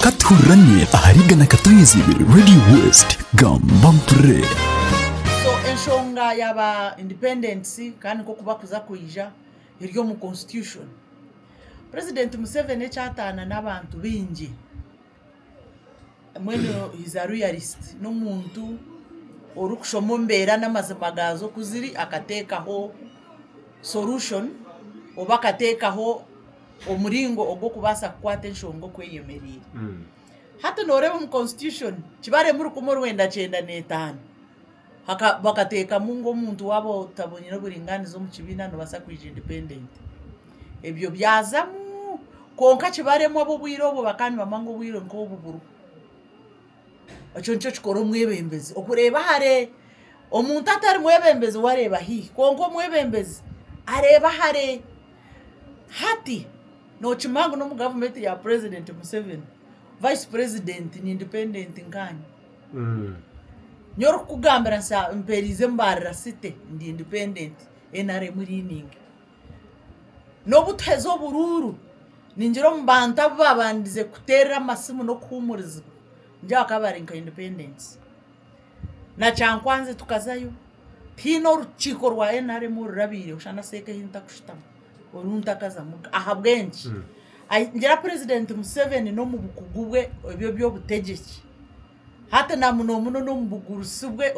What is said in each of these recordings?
Ka tuhurirane ahari Igana Katohizibwe Radio West. Gamba mpurre! So enshonga ya ba independents kandi nkoku bakuza kwija eri omu constitution. President Museveni ekyataana n'abantu baingi. Mbwenu Hizaruyarisiti n'omuntu orikushoma embeera n'amazima gaazo oku ziri akateekaho sorushoni oba akateekaho omuringo ogw'okubaasa kukwata enshonga oku eyemereire. Hati nooreeba omu konsitityushoni, kibaremu rukumi orwenda kyenda n'etaano. bakatekamu ngu omuntu waba otabonire oburinganiza omu kibiina nobasa kwija independent ebyo byazamu kwonka kibaremu abobwire obwo bakaba nibamanya ngu obwire nkobu buriho ekyo nikyo kikora omwebembezi okureba hare omuntu atari mwebembezi we areba haihi kwonka omwebembezi areba hare hati nokimanya ngu nomu gavumenti ya purezidenti museveni vayisi purezidenti ni independent nkanye. Nyowe orikukugambira nsa mperize mbarira city ndi independent nrm leaning nobu tuheza obururu ningira omu bantu abu babandize kuterera amasimu n'okuhumurizibwa ningira bakaba bari nka independent na kyankwanzi tukazayo tihaine orukiiko rwa nrm orurabireho shana seeka ehi ntakushutama. Oruntakaza muka ahabw'enki? Ngira Purezidenti Museveni n'omu bukugu bwe eby'eby'obutegyeki, hati na muno muno n'omu bugurusi bwe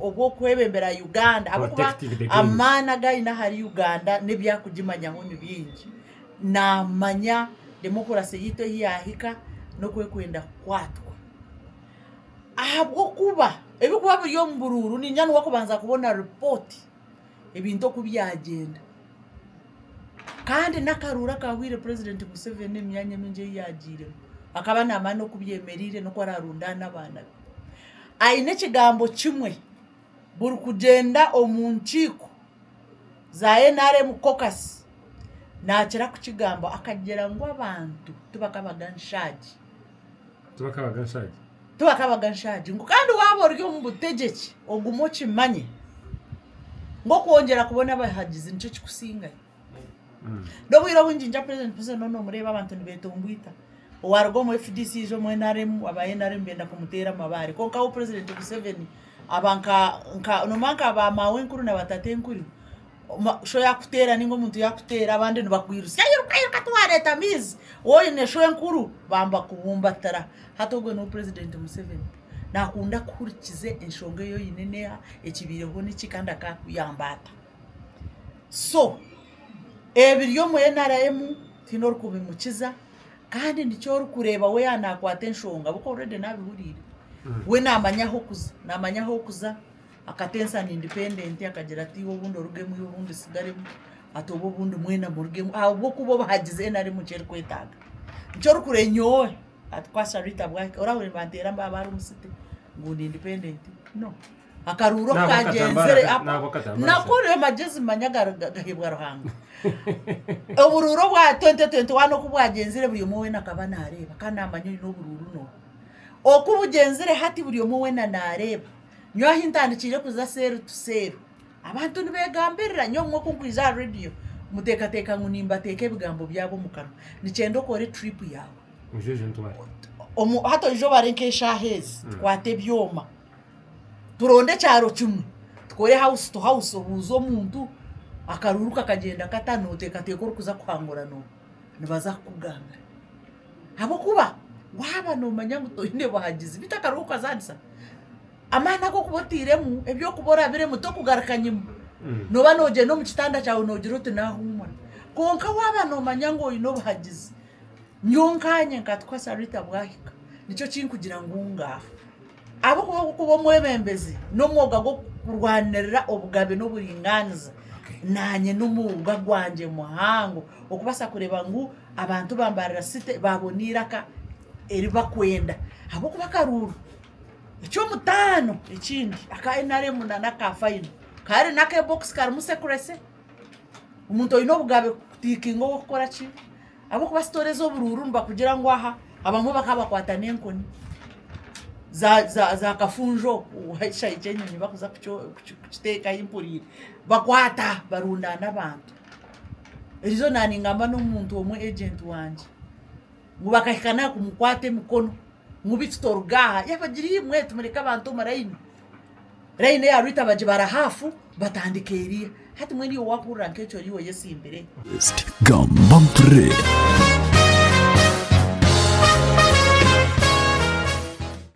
obw'okwebembera Uganda ahabw'okuba amaani agu aine ahari Uganda n'ebi arikugimanyaho ni bingi. Naamanya demokurasi yaitu ahu yaahika n'oku erikwenda kukwatwa. Ahabw'okuba ebirikuba biri omu buruuru niinyenda niwe arikubanza kubona ripooti. ebintu oku byagyenda. Kandi n'akaruuru akaahwaire purezidenti Museveni emyanya mingi ei yaagiiremu akaba naamanya n'oku byemereire n'oku araarundaane n'abaana be. Aine ekigambo kimwe, buri kugyenda omu nkiiko za NRM caucus naakira kukigamba akagira ngu abantu tibakabaga nshaagi. Tibakabaga nshaagi. Tibakabaga nshaagi. Ngu kandi waaba ori omu butegyeki, ogume okimanye ngu okwongyera kubona abahagizi nikyo kikusingayo. N'obwire obwingi nja Purezidenti Museveni onu omureeba abantu nibeetomboita. Owaaruga omu fdc yaija omu nrm, aba nrm benda kumuteera amabaare. Kwonka hoo Purezidenti Museveni aba nka, nka, noomanya nka baamaawenkuru na baatatenkuru. Show yakuteera ninga omuntu yakuteera abandi nibakwirutsya iruka iruka tiwareeta amaizi waaba oine show enkuru bambakubumbatira hati ogwe niwe president Museveni nakunda kuhurikiza enshonga ei oine neha ekibaireho niki kandi akakuyamba ata so ebiri omu nrm tihaine orikubimukiza kandi nikyo orikureeba we yaaba nakwata enshonga ahabw'okuba already nabihuriire we namanya ahokuza namanya ahokuza. Akateesa ni independent akagira ati obundi orugemwi obundi osigaremu ati oba obundi mwena murugemu ahabw'okuba obuhagizi nrm nki erikwetaaga. Nikyo orikure nyowe ati kwa Sharita bwahika orahurire nibanteera mbaaba ahari omu city ngu ndi independent no. Akaruuru oku Naabo akatambaara kaagyenzire ka- naabo apo akatambaara nako ka. oryo magyezi manya gari- ga- gaheebwa Ruhanga. Oburuuru obwa 2021 oku bwagyenzire buri omwe weena akaba naareeba kandi naamanya oine oburuuru nooha. Oku bugyenzire hati buri omwe weena naareeba. Nyowe ahi ntandikiire kuza seeru tu seeru abantu nibegambirira nyowe obumwe ku nkwija aha radio muteekateeka ngu nimbateeka ebigambo byabo omu kanwa nikyenda okore trip yaawe omu hati oije obare nk'eshaaha ezi mm. tukwate ebyoma turonde ekyaro kimwe tukore house to house obuuze omuntu akaruuru kakagyenda kata nooteekateeka orikuza kuhangura noobu nibaza kukugambira Ahabw'okuba waaba noomanya ngu toine buhagizi, beitu akaruho okazaanisa amaani agu orikuba otairemu, ebi orikuba orabiremu tokugaruka nyima, nooba noogyenda omu kitanda kyawe noogira oti naahuumura. Kwonka waaba noomanya ngu oine obuhagizi, nyowe nkaanye nkatukwa Sarita bwahika, nikyo kinkugira ngu ngaaha. Ahabw'okuba okuba omwebembezi n'omwoga gw'okurwanirira obugabe n'oburingaaniza, naanye n'omwoga gwangye muhango okubaasa kureeba ngu abantu ba Mbarara City baabona eiraka eri bakwenda ahabw'okuba akaruuru eky'omutaano ekindi aka nrm nana aka fayino kare n'akebokisi karimu secrecy, omuntu oine obugabe kutiikinga ow'okukora ki? Ahabw'okuba sitoora ez'oburuuru nibakugira ngu aha abamwe bakaba bakwata n'enkoni zaakafunjo ekishahi ky'enyonyi barikuza kukiteekaho empuriire bakwata barundaana abantu. Erizooba naaningamba n'omuntu omwe ejenti wangye ngu bakahika n'aha kumukwata emikono ngu beitu toruga aha. Yabagira imwe timureka abantu omu rayini. Layini eyarwita bagibara haafu batandika eriya. Hati mbwenu iwe wakuhurira nk'ekyo ori oyetsimbire? Playlist Gamba Mpurire.